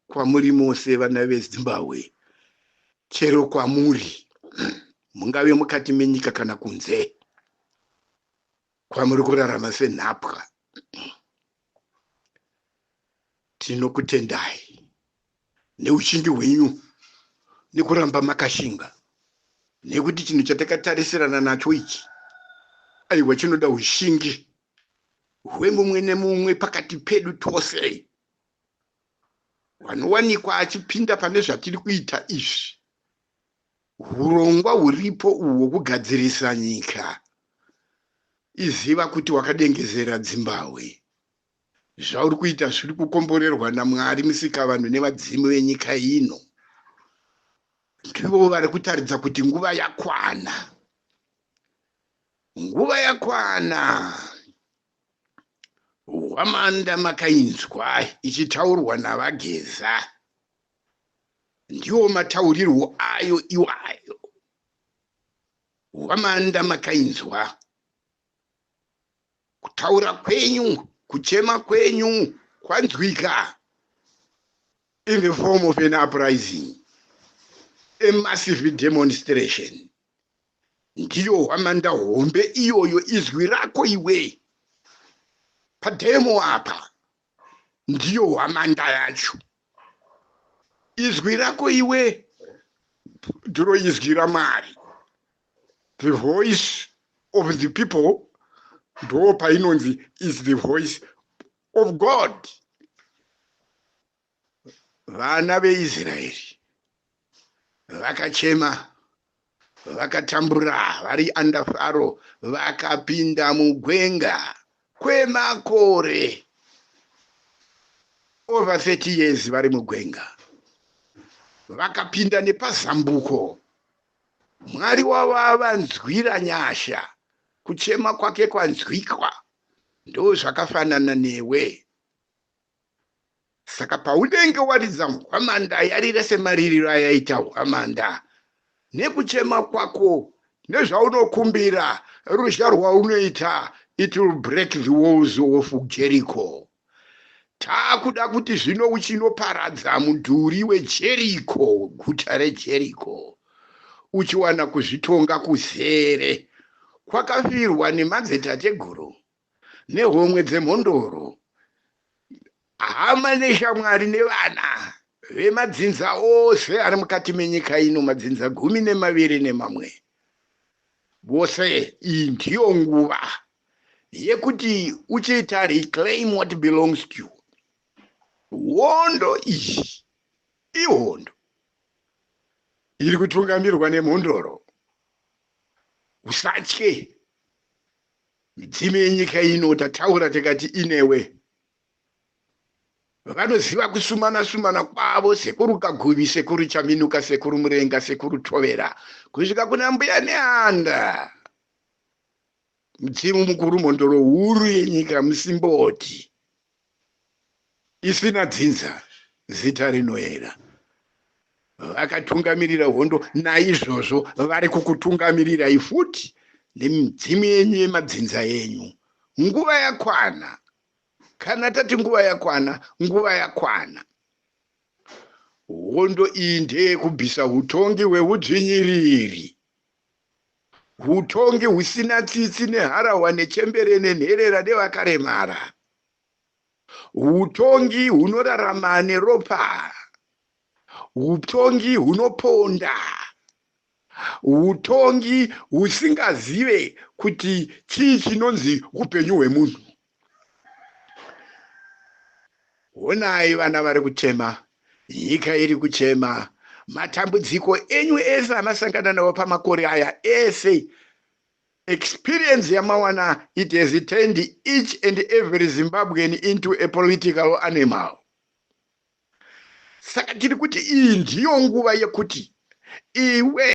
kwamuri mose vana vezimbabwe chero kwamuri mungave mukati menyika kana kunze kwamuri kurarama senhapwa tinokutendai neuchingi hwenyu nekuramba makashinga nekuti chinhu chatakatarisirana nacho ichi aiwa chinoda ushingi hwemumwe nemumwe pakati pedu tose vanowanikwa achipinda pane zvatiri kuita izvi urongwa huripo uhwo kugadzirisa nyika iziva kuti wakadengezera dzimbahwe zvauri kuita zviri kukomborerwa namwari musikavanhu nevadzimu venyika ino ndivo vari kutaridza kuti nguva yakwana nguva yakwana hwamanda makainzwa ichitaurwa naVaGeza ndiwo mataurirwo ayo iwayo hwamanda makainzwa kutaura kwenyu kuchema kwenyu kwanzwika in the form of an uprising a massive demonstration Ndiyo hwamanda hombe iyoyo izwi rako iwe pademo apa ndiyo hwamanda yacho izwi rako iwe ndiro izwi ramwari the voice of the people ndo painonzi is the voice of god vana veIsraeri vakachema vakatambura vari under Faro vakapinda mugwenga kwemakore over 30 years vari mugwenga vakapinda nepazambuko mwari wavo avanzwira nyasha kuchema kwake kwanzwikwa ndozvakafanana newe Saka paunenge waridza hwamanda, yarire semaririro ayaita hwamanda, nekuchema kwako, nezvaunokumbira, ruzha rwaunoita, it will break the walls of Jericho. Taakuda kuti zvino uchinoparadza mudhuri weJericho, guta reJericho, uchiwana kuzvitonga kuzere kwakafirwa nemadzitateguru nehomwe dzemhondoro, hama neshamwari nevana vemadzinza ose ari mukati menyika ino, madzinza gumi nemaviri nemamwe vose. Iyi ndiyo nguva yekuti uchiita reclaim what belongs to you. Hondo iyi ihondo iri kutungamirwa nemhondoro usatye Midzimu yenyika ino tataura tikati inewe. Vanoziva kusumana sumana kwavo sekuru Kaguvi, sekuru Chaminuka, sekuru Murenga, sekuru Tovera kusvika kuna mbuya Neanda. Mudzimu mukuru mhondoro huru yenyika musimboti. isina dzinza, zita rinoera. Vakatungamirira hondo, naizvozvo vari kukutungamirirai futi nemidzimu yenyu yemadzinza enyu. Nguva yakwana. Kana tati nguva yakwana, nguva yakwana. Hondo iyi ndeyekubvisa utongi hweudzvinyiriri Hutongi husina tsitsi neharahwa nechembere nenherera nevakaremara. Hutongi hunorarama neropa. Hutongi hunoponda. Hutongi husingazive kuti chii chinonzi hupenyu hwemunhu. Honai vana vari kuchema, nyika iri kuchema, matambudziko enyu ese amasangana nawo pamakore aya ese experience yamawana it has turned each and every zimbabwean into a political animal saka tiri kuti iyi ndiyo nguva yekuti iwe